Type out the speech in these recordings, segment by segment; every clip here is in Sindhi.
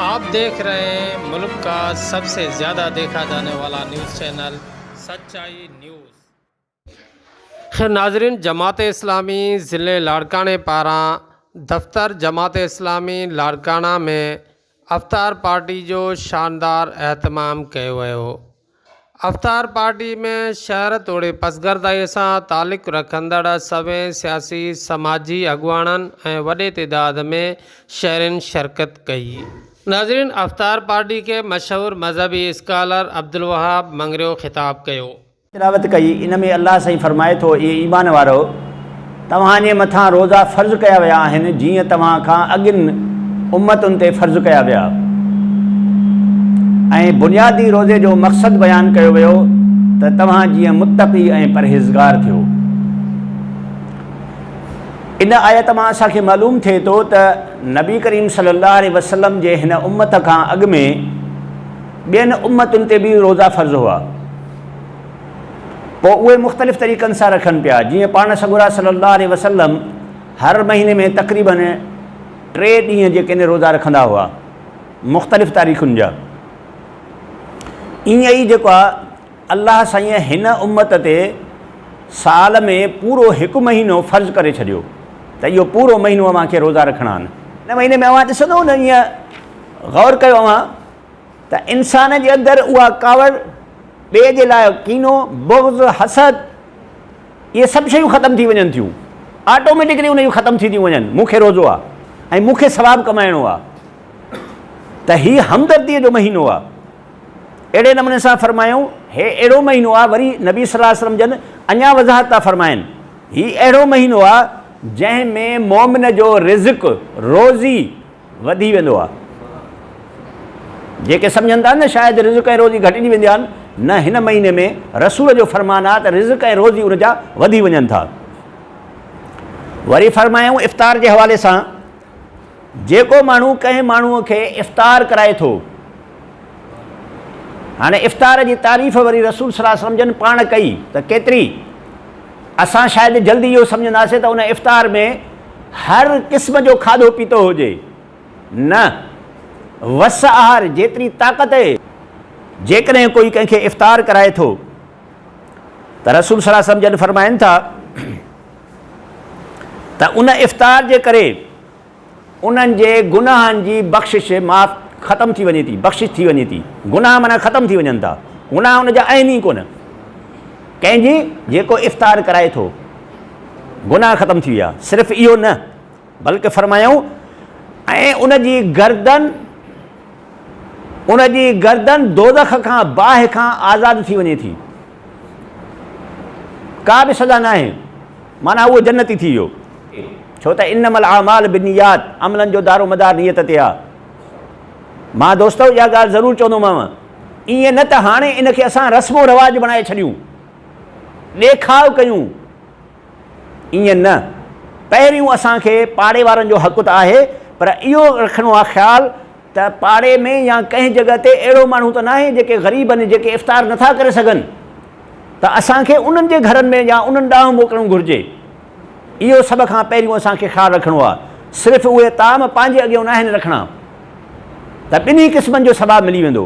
آپ ديکھ رھي ھين ملڪ ڪا سب سي زياده ديکا جاني والا نيوز چينل سچائي نيوز. خير ناظرين جماعت اسلامي ضلع لاڙڪاڻي پاران دفتر جماعت اسلامي لاڙڪاڻا ۾ افطار پارٽي جو شاندار اھتمام ڪيو ويو افطار پارٽي ۾ شهر توڙي پسگردائيء سان تعلق رکندڙ سوين سياسي سماجي اڳواڻن ۽ وڏي تعداد ۾ شهرين شرڪت ڪئي. ناظرين افطار پارٽي کي مشهور مذهبي اسڪالر عبدالوهاب مڱريو خطاب ڪيو. تلاوت ڪئي، ان ۾ الله سائين فرمائي ٿو، اي ايمان وارؤ! توهان جي مٿان روزا فرض ڪيا ويا آهن جيئن توهان کان اڳين امتن تي فرض ڪيا ويا. ۽ بنيادي روزي جو مقصد بيان ڪيو ويو ته توهان جيئن متقي ۽ پرهيزگار ٿيو. ان آيت مان اسان کي معلوم ٿئي ٿو ته نبي ڪريم صلي الله عليه وسلم جي هن امت کان اڳ ۾ ٻين امتن تي به روزا فرض هئا. پوء اهي مختلف طريقن سان رکن پيا، جيئن پاڻ سڳورا صلّي الله عليه وسلّم هر مهيني ۾ تقريباً ٽي ڏينهن جي ڪني روزا رکندا هئا، مختلف تاريخن جا. ائين ئي جيڪو آ، الله سائينء هن امّت تي سال ۾ پورو هڪ مهينو فرض ڪري ڇڏيو ته اهو پورو مهينو اوهان کي روزا رکڻا آهن. ان مهيني ۾ اوهان ڏسندؤ نه، ائين غور ڪيو اوهان! ته انسان جي اندر اها ڪاوڙ، ٻئي جي لاء ڪينو، بغض، حسد، اهي سڀ شيون ختم ٿي وڃن ٿيون. آٽوميٽڪلي ان جون ختم ٿي ٿيون وڃن. مون کي روزو آ ۽ مون کي ثواب ڪمائڻو آ ته هي همدرديء جو مهينو آ. اهڙي نموني سان فرمايائون، هي اهڙو مهينو آ وري نبي صلي الله عليه وسلم جن اڃا وضاحت ٿا فرمائن، هي اهڙو مهينو آ جنهن ۾ مؤمن جو رزق، روزي، وڌي ويندو آهي جيڪي سمجهن ٿا نه شايد رزق ۽ روزي گهٽجي ويندي آهن نه هن مهيني ۾ رسول جو فرمان آهي ته رزق ۽ روزي ان جا وڌي وڃن ٿا وري فرمايائون افطار جي حوالي سان جيڪو ماڻهو ڪنهن ماڻهو کي افطار ڪرائي ٿو هاڻي افطار جي تعريف وري رسول صلي الله عليه وسلم جن پاڻ ڪئي ته ڪيتري اسان شايد جلد اهو سمجهنداسين ته ان افطار ۾ هر قسم جو کاڌو پيتو هجي. نه، وس آهر جيتري طاقت اهي. جيڪڏهن ڪوئي ڪنهن کي افطار ڪرائي ٿو ته رسول صلي الله عليه وسلم جڏ فرمائن ٿا ته ان افطار جي ڪري، انهن جي گناهن جي بخشش، معاف، ختم ٿي وڃي ٿي، بخشش ٿي وڃي ٿي. گناهه معنيٰ ختم ٿي وڃن ٿا. گناهه ان جا اهن ئي ڪونه. ڪنهن جي؟ جيڪو افطار ڪرائي ٿو. گناهه ختم ٿي ويا. صرف اهو نه، بلڪ فرمايائون، ۽ ان جي گردن، ان جي گردن دوزخ کان، باهه کان، آزاد ٿي وڃي ٿي. ڪا به سزا ناهي. معنيٰ اهو جنتي ٿي ويو. ڇو ته انما الاعمال بالنيات عملن جو دارومدار نيت تي آهي. مان دوستؤ اها ڳالهه ضرور چوندومانو، ائين نه ته هاڻي ان کي اسان رسم و رواج بڻائي ڇڏيون، ڏيکاء ڪيون، ائين نه، پهريون اسان کي پاڙي وارن جو حق ته آهي پر اهو رکڻو آهي خيال، ته پاڙي ۾ يا ڪنهن جڳهه تي اهڙو ماڻهو ته ناهي جيڪي غريب آهن جيڪي افطار نه ٿا ڪري سگهن ته اسان کي انهن جي گهرن ۾ يا انهن ڏانهن موڪلڻ گهرجي اهو سڀ کان پهريون اسان کي خيال رکڻو آهي صرف اهي طعام پنهنجي اڳيون ناهن رکڻا ته ٻنهي قسمن جو ثواب ملي ويندو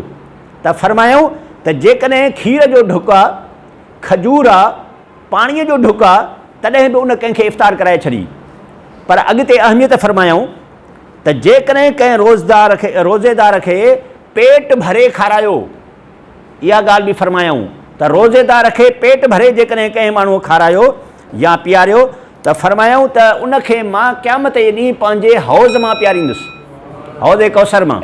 ته فرمايائون ته جيڪڏهن کير جو ڍڪ آهي کجور آهي پاڻي جو ڍڪ آهي تڏهن به ان ڪنهن کي افطار ڪرائي ڇڏي پر اڳتي اهميت فرمايائون ته جيڪڏهن ڪنهن روزدار کي روزيدار کي پيٽ ڀري کارايو، اها ڳالهه به فرمايائون ته روزيدار کي پيٽ ڀري جيڪڏهن ڪنهن ماڻهوء کارايو يا پياريو ته فرمايائون ته ان کي مان قيامت جي ڏينهن پنهنجي حوض مان پياريندس، حوض ڪوثر مان.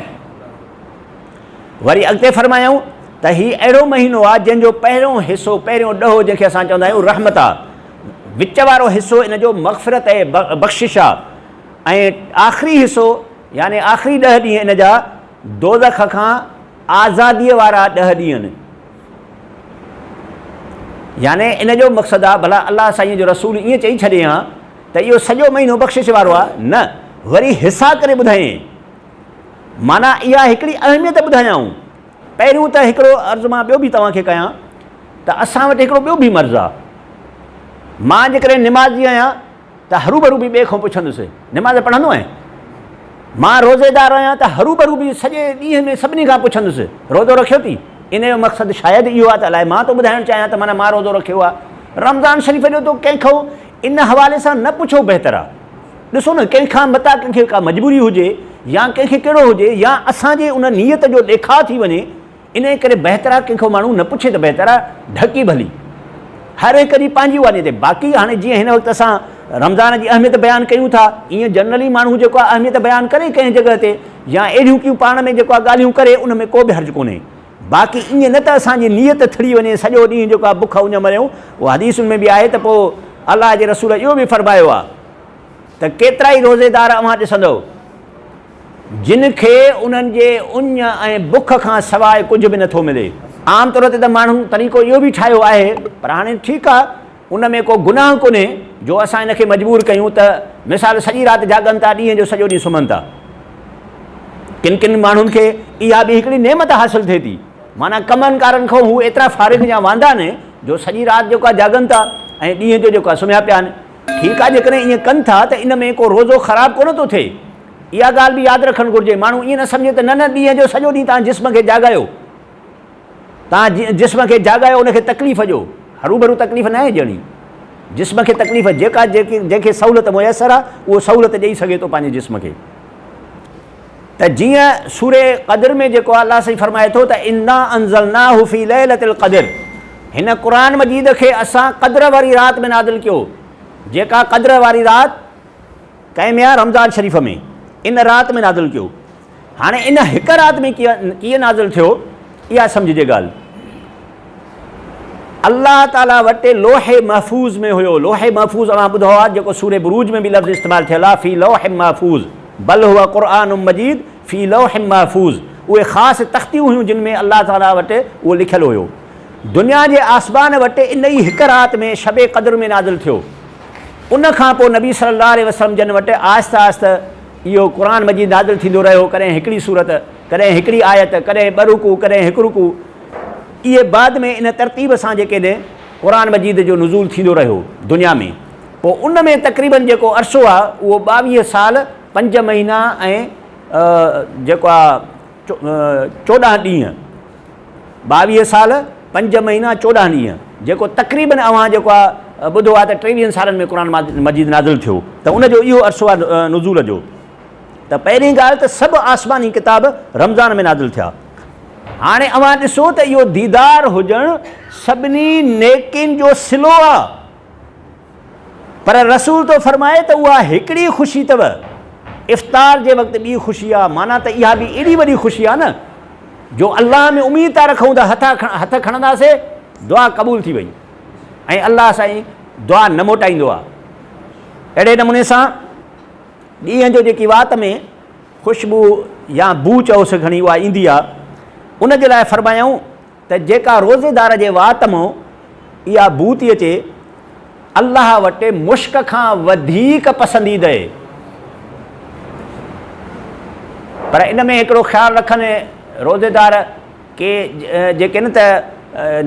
وري اڳتي فرمايائون ته هي اهڙو مهينو آهي جنهن جو پهريون حصو، پهريون ڏهو جنهن کي اسان چوندا آهيون رحمت آهي، وچ وارو حصو ان جو مغفرت ۽ بخشش آهي. ۽ آخري حصو يعني آخري ڏهه ڏينهن ان جا دوزخ کان آزاديء وارا ڏهه ڏينهن آهن. يعني ان جو مقصد آ ڀلا الله سائينء جو رسول ائين چئي ڇڏي هان ته اهو سڄو مهينو بخشش وارو آ، نه وري حصا ڪري ٻڌائين. معنيٰ اها هڪڙي اهميت ٻڌايائون. پهريون ته هڪڙو عرض مان ٻيو به توهان کي ڪيان ته اسان وٽ هڪڙو ٻيو به مرض آ. مان جيڪڏهن نمازي آهيان ته هروڀرو به ٻئي کان پڇندس، نماز پڙهندو آهين؟ مان روزيدار آهيان ته هروڀرو به سڄي ڏينهن ۾ سڀني کان پڇندس، روزو رکيو ٿي؟ ان جو مقصد شايد اهو آهي ته الائي مان ٿو ٻڌائڻ چاهيان ته معنيٰ مان روزو رکيو آهي. رمضان شريف جو تو ڪنهن کان ان حوالي سان نه پڇو بهتر آهي. ڏسو نه ڪنهن کان متان ڪنهن کي ڪا مجبوري هجي يا ڪنهن کي ڪهڙو هجي يا اسان جي ان نيت جو ڏيکاء ٿي وڃي انهيء ڪري بهتر آ ڪنهن کان ماڻهو نه پڇي ته بهتر آ ڍڪي ڀلي هر هڪ جي پنهنجي واني تي باقي هاڻي جيئن هن وقت اسان رمضان جي اهميت بيان ڪيون ٿا ايئن جنرلي ماڻهو جيڪو آ اهميت بيان ڪري ڪنهن جڳهه تي يا اهڙيون ڪيون پاڻ ۾ جيڪو آ ڳالهيون ڪري ان ۾ ڪو به حرج ڪونهي باقي ايئن نه ته اسان جي نيت ٿڙي وڃي سڄو ڏينهن جيڪو آ بک اڃ مريون اهو حديثن ۾ به آهي ته پوء الله جي رسول اهو به فرمايو آ ته ڪيترائي روزيدار اوهان ڏسندؤ، جن کي انهن جي اڃ ۽ بک کان سواء ڪجهه به نه ٿو ملي. عام طور تي ته ماڻهن طريقو اهو به ٺاهيو آهي، پر هاڻي ٺيڪ آ، ان ۾ ڪو گناهه ڪونهي، جو اسان هن کي مجبور ڪيون ته مثال سڄي رات جاڳن ٿا، ڏينهن جو سڄو ڏينهن سمهن ٿا. ڪن ڪن ماڻهن کي اها به هڪڙي نعمت حاصل ٿئي ٿي، معنيٰ ڪمن ڪارن کان هو ايترا فارغ يا واندا آهن، جو سڄي رات جيڪو آ جاڳن ٿا ۽ ڏينهن جو جيڪو آ سمهيا پيا آهن. ٺيڪ آ جيڪڏهن ائين ڪن ٿا ته ان ۾ ڪو روزو خراب ڪونه ٿو ٿئي. اها ڳالهه به ياد رکڻ گهرجي ماڻهو ائين نه سمجهي ته نه نه ڏينهن جو سڄو ڏينهن تان جسم کي جاڳايو تان جسم کي جاڳايو ان کي تڪليف ڏيو هروڀرو تڪليف ناهي ڏيڻي جسم کي تڪليف جيڪا جنهن کي سهولت ميسر آ اهو سهولت ڏئي سگهي ٿو پنهنجي جسم کي. ته جيئن سورة قدر ۾ جيڪو آهي الله سائين فرمائي ٿو ته انا انزلناه في ليلة القدر هن قرآن مجيد کي اسان قدر واري رات ۾ نازل ڪيو جيڪا قدر واري رات ڪنهن ۾ آهي رمضان شريف ۾ ان رات ۾ نازل ڪيو هاڻي ان هڪ رات ۾ ڪيئن نازل ٿيو اها سمجهجي ڳالهه الله تعاليٰ وٽ لوح محفوظ ۾ هيو. لوح محفوظ اوهان ٻڌو آهي جيڪو سورة بروج ۾ به لفظ استعمال ٿيل آهي في لوح محفوظ بل هو قرآن مجيد في لوح محفوظ اهي خاص تختيون هيون جن ۾ الله تعاليٰ وٽ اهو لکيل هيو دنيا جي آسمان وٽ ان ئي هڪ رات ۾ شب قدر ۾ نازل ٿيو ان کان پوء نبي صلي الله عليه وسلم جن وٽ آهستي آهستي اهو قرآن مجيد نازل ٿيندو رهيو ڪڏهن هڪڙي سورت ڪڏهن هڪڙي آيت ڪڏهن ٻه رڪوع ڪڏهن هڪ رڪوع اهي بعد ۾ ان ترتيب سان جيڪي نه قرآن مجيد جو نزول ٿيندو رهيو دنيا ۾ پوء ان ۾ تقريبن جيڪو عرصو آهي اهو ٻاويهه سال پنج مهينا ۽ جيڪو آهي چوڏهن ڏينهن ٻاويهه سال پنج مهينا چوڏهن ڏينهن جيڪو تقريبن اوهان جيڪو آهي ٻڌو آهي ته ٽيويهن سالن ۾ قرآن مجيد نازل ٿيو ته ان جو اهو عرصو آهي نزول جو ته پهرين ڳالهه ته سڀ آسماني ڪتاب رمضان ۾ نازل ٿيا. هاڻي اوهان ڏسو ته اهو ديدار هجڻ سڀني نيڪين جو صلو آ پر رسول ٿو فرمائي ته اها هڪڙي خوشي اٿو افطار جي وقت ٻي خوشي آ معنيٰ ته اها به ايڏي وڏي خوشي آ نه جو الله ۾ اميد ٿا رکون ته هٿ کڻنداسي دعا قبول ٿي وئي ۽ الله سائين دعا نه موٽائيندو آ اهڙي نموني سان ڏينهن جو جيڪي وات ۾ خوشبو يا بوء چئو سي گهڻي اها ايندي آ، ان جي لاء فرمايائون ته جيڪا روزيدار جي وات م اها بوء ٿي اچي، الله وٽ مشڪ کان وڌيڪ پسنديدهي. پر ان ۾ هڪڙو خيال رکن روزيدار ڪي جيڪي نه ته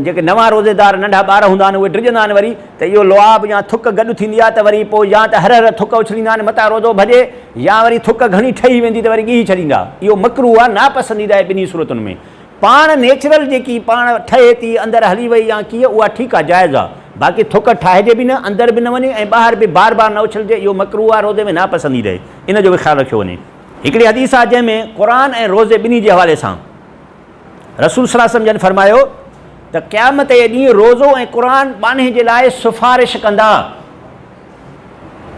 جيڪي نوان روزيدار ننڍا ٻار هوندا آهن اهي ڊڄندا آهن وري ته اهو لعاب يا ٿڪ گڏ ٿيندي آهي ته وري پوء يا ته هر هر ٿڪ اڇليندا آهن متان روزو ڀڄي يا وري ٿڪ گهڻي ٺهي ويندي ته وري ڳهي ڇڏيندا اهو مڪروه آهي ناپسنديده آهي ٻنهي صورتن ۾ پاڻ نيچرل جيڪي پاڻ ٺهي ٿي اندر هلي وئي يا ڪيئن اها ٺيڪ آهي جائز آهي باقي ٿڪ ٺاهجي به نه اندر به نه وڃي ۽ ٻاهر به بار بار نه اڇلجي اهو مڪروه آهي روزي ۾ ناپسنديده آهي ان جو به خيال رکيو وڃي. هڪڙي حديث آهي جنهن ۾ قرآن ۽ روزي ٻنهي جي حوالي سان رسول صلي الله عليه وسلم جن فرمايو ته قيامت جي ڏينهن روزو ۽ قرآن ٻانهي جي لاء سفارش ڪندا.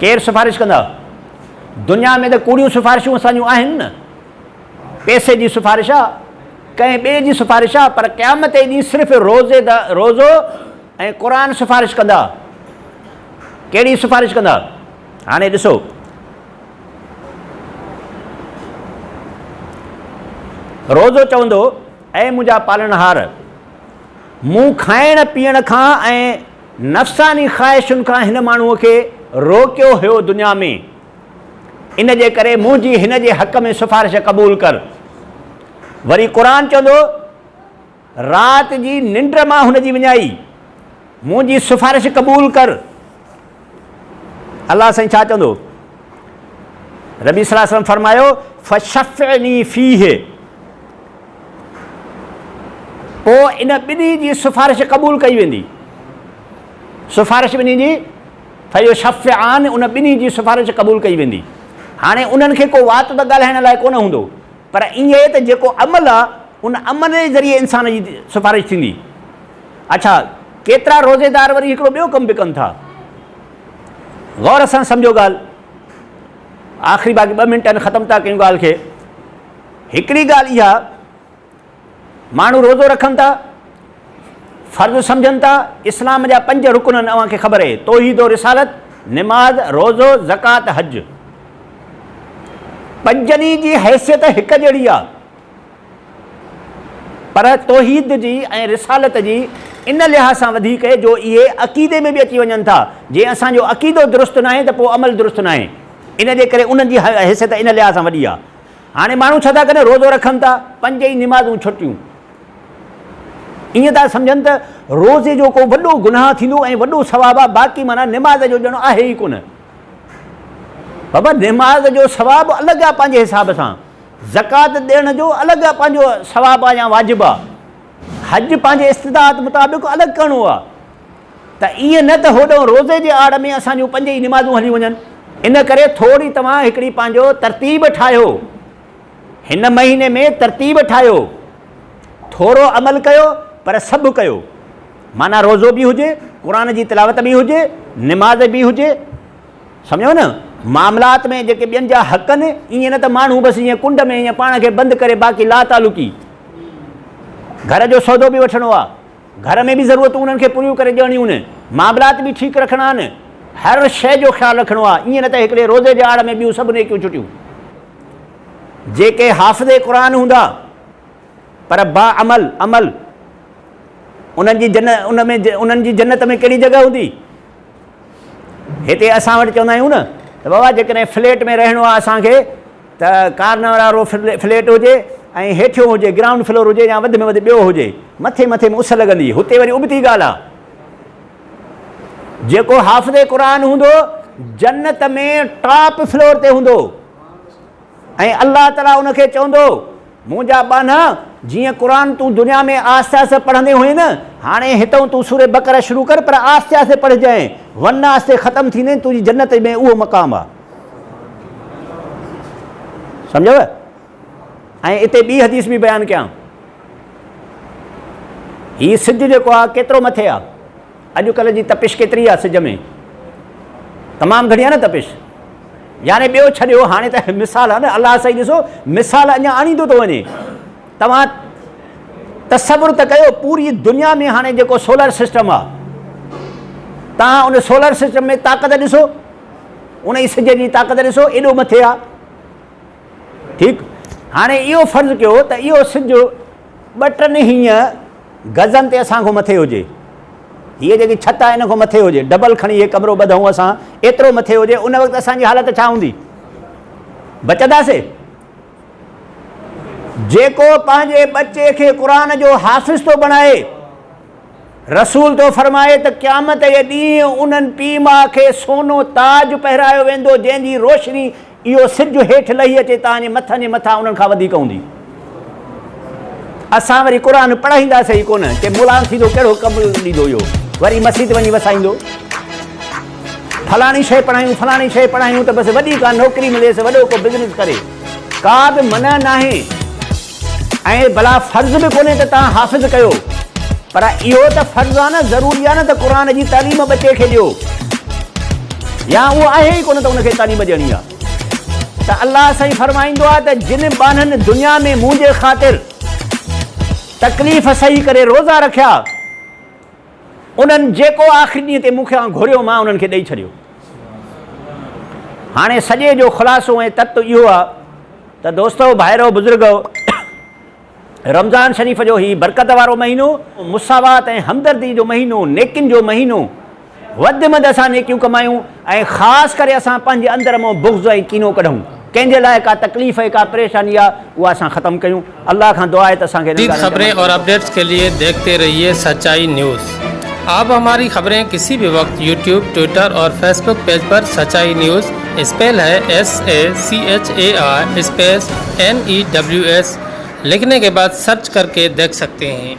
ڪير سفارش ڪندا؟ دنيا ۾ ته ڪوڙيون سفارشون اسان جون آهن نه. پئسي جي سفارش آ، ڪنهن ٻئي جي سفارش آ پر قيامت جي ڏينهن صرف روزي دا روزو ۽ قرآن سفارش ڪندا. ڪهڙي سفارش ڪندا؟ هاڻي ڏسو. روزو چوندو، اي منهنجا پالڻهار! مون کائڻ پيئڻ کان ۽ نفساني خواهشن کان هن ماڻهوء کي روڪيو هيو دنيا ۾، ان جي ڪري منهنجي هن جي حق ۾ سفارش قبول ڪر. وري قرآن چوندو. رات جي ننڊ مان هن جي وڃائي، منهنجي سفارش قبول ڪر. الله سائين ڇا چوندو؟ ربي صلي الله عليه وسلم فرمايو، فشفعني فيه. پوء ان ٻنهي جي سفارش قبول ڪئي ويندي. سفارش ٻنهي جي، فيشفعان، ان ٻنهي جي سفارش قبول ڪئي ويندي. هاڻي انهن کي ڪو وات ته ڳالهائڻ لاء ڪونه هوندو. پر ايئن آهي ته جيڪو عمل آهي ان عمل جي ذريعي انسان جي سفارش ٿيندي. اڇا ڪيترا روزيدار وري هڪڙو ٻيو ڪم به ڪن ٿا. غور سان سمجهو ڳالهه. آخري باقي ٻه منٽ آهن ختم ٿا ڪيون ڳالهه کي. هڪڙي ڳالهه اها. ماڻهو روزو رکن ٿا، فرض سمجهن ٿا، اسلام جا پنج رڪن آهن اوهان کي خبر اهي، توحيد و رسالت، نماز، روزو، زڪوات، حج. پنجني جي حيثيت هڪ جهڙي آهي پر توحيد جي ۽ رسالت جي ان لحاظ سان وڌيڪ جو اهي عقيدي ۾ به اچي وڃن ٿا، جي اسان جو عقيدو درست ناهي ته پوء عمل درست ناهي، ان جي ڪري انهن جي حيثيت ان لحاظ سان وڏي آهي. هاڻي ماڻهو ڇا ٿا ڪرن روزو رکن ٿا پنج ئي نمازون ڇٽيون ائين ٿا سمجهن ته روزي جو ڪو وڏو گناهه ٿيندو ۽ وڏو ثواب آ باقي معنيٰ نماز جو ڄڻ آهي ئي ڪونه بابا نماز جو ثواب الڳ آ پنهنجي حساب سان زڪات ڏيڻ جو الڳ آ پنهنجو ثواب آ يا واجب آ حج پنهنجي استطاعت مطابق الڳ ڪرڻو آ ته ائين نه ته هوڏهون روزي جي آڙ ۾ اسان جون پنج ئي نمازون هليون وڃن. ان ڪري ٿوري توهان هڪڙي پنهنجو ترتيب ٺاهيو. هن مهيني ۾ ترتيب ٺاهيو. ٿورو عمل ڪيو پر سڀ ڪيو. معنيٰ روزو به هجي، قرآن جي تلاوت به هجي، نماز به هجي. سمجهيو نه؟ معاملات ۾ جيڪي ٻين جا حق آهن، ائين نه ته ماڻهو بس جيئن ڪنڊ ۾ ائين پاڻ کي بند ڪري باقي لاتعلقي. گهر جو سودو به وٺڻو آهي. گهر ۾ به ضرورتون انهن کي پوريون ڪري ڏيڻيون آهن، معاملات به ٺيڪ رکڻا آهن، هر شيء جو خيال رکڻو آهي، ايئن نه ته هڪڙي روزي جي آڙ ۾ ٻيون سڀ نيڪيون ڇٽيون. جيڪي حافظ قرآن هوندا پر باعمل، عمل، انهن جي جن ان ۾ انهن جي جنت ۾ ڪهڙي جڳهه هوندي؟ هتي اسان وٽ چوندا آهيون نه ته بابا جيڪڏهن فليٽ ۾ رهڻو آهي اسان کي، ته ڪارنهن وارو فليٽ هجي ۽ هيٺيون هجي، گرائونڊ فلور هجي يا وڌ ۾ وڌ ٻيو هجي، مٿي مٿي ۾ اس لڳندي، هتي وري ابتي ڳالهه آ. جيڪو حافظ قرآن هوندو، جنت ۾ ٽاپ فلور تي هوندو ۽ الله تعاليٰ ان کي چوندو. منهنجا ٻانها، جيئن قرآن تون دنيا ۾ آهستي آهستي پڙهندي هئين نه، هاڻي هتئون تون سورة بقرة شروع ڪر پر آهستي آهستي پڙهجانء، ورنه آهستي ختم ٿيندين، تنهنجي جنت ۾ اهو مقام آهي. سمجهيو؟ ۽ اتي ٻي حديث به بيان ڪيان. هي سج جيڪو آهي ڪيترو مٿي آهي؟ اڄ ڪلهه جي تپش ڪيتري آ سج ۾. تمام گهڻي آ نه تپش. يعني ٻيو ڇڏيو هاڻي ته مثال آ نه الله سائين ڏسو مثال اڃا آڻيندو ٿو وڃي توهان تصور ته ڪيو پوري دنيا ۾ هاڻي جيڪو سولر سسٽم آ توهان ان سولر سسٽم ۾ طاقت ڏسو ان جي سج جي طاقت ڏسو ايڏو مٿي آ ٺيڪ هاڻي اهو فرض ڪيو ته اهو سج ٻه ٽن هينئن گزن تي اسان کان مٿي هجي. هيء جيڪي ڇت آهي ان کان مٿي هجي. ڊبل کڻي هيء ڪمرو ٻڌئون اسان ايترو مٿي هجي ان وقت اسان جي حالت ڇا هوندي؟ بچنداسي؟ جيڪو پنهنجي ٻچي کي قرآن جو حافظ ٿو بڻائي. رسول ٿو فرمائي ته قيامت جي ڏينهن انهن پيء ماء کي سونو تاج پهرايو ويندو جنهن جي روشني اهو سج هيٺ لهي اچي تان جي مٿن جي مٿان انهن کان وڌيڪ هوندي. اسان وري قرآن پڙهائينداسي ئي ڪونه ڪي مولان ٿيندو ڪهڙو ڪم ڏيندو اهو وري مسيت وڃي وسائيندو فلاڻي شيء پڙهايون فلاڻي شيء پڙهايون ته بس وڏي ڪا نوڪري مليس وڏو ڪو بزنس ڪري ڪا به منع ناهي. ائين ڀلا فرض به ڪونهي ته توهان حافظ ڪيو پر اهو ته فرض آهي نه ضروري آهي نه ته قرآن جي تعليم ٻچي کي ڏيو يا اهو آهي ئي ڪونه ته ان کي تعليم ڏيڻي آهي ته الله سائين فرمائيندو آهي ته جن ٻانهن دنيا ۾ منهنجي خاطر تڪليف سهي ڪري روزا رکيا انهن جيڪو آخري ڏينهن تي مون کي کان گهريو مان انهن کي ڏئي ڇڏيو. هاڻي سڄي جو خلاصو ۽ تت اهو آهي ته دوستؤ، ڀائرؤ، بزرگؤ! رمضان شريف جو هي برڪت وارو مهينو، مساوات ۽ همدردي جو مهينو، نيڪين جو مهينو، وڌ مند اسان نيڪيون ڪمايون ۽ خاص ڪري اسان پنهنجي اندر مان بغض ۽ ڪينو ڪڍون، ڪنهن جي لاء ڪا تڪليف ۽ ڪا پريشاني آهي اها اسان ختم ڪيون. الله کان دعا آهي ته اسان کي انهن ڳالهين تي عمل ڪرڻ کپي. جديد خبرين اور اپڊيٽس ڪي لئي ديکتي رهيي سچائي نيوز آپ هماري خبرين ڪسي بي وقت يوٽيوب ٽوئيٽر اور فيس بوڪ پيج پر سچائي نيوز اسپيل هي S A C H A I space N E W S لکني ڪي بعد سرچ ڪر ڪي ديک سڪتي هين.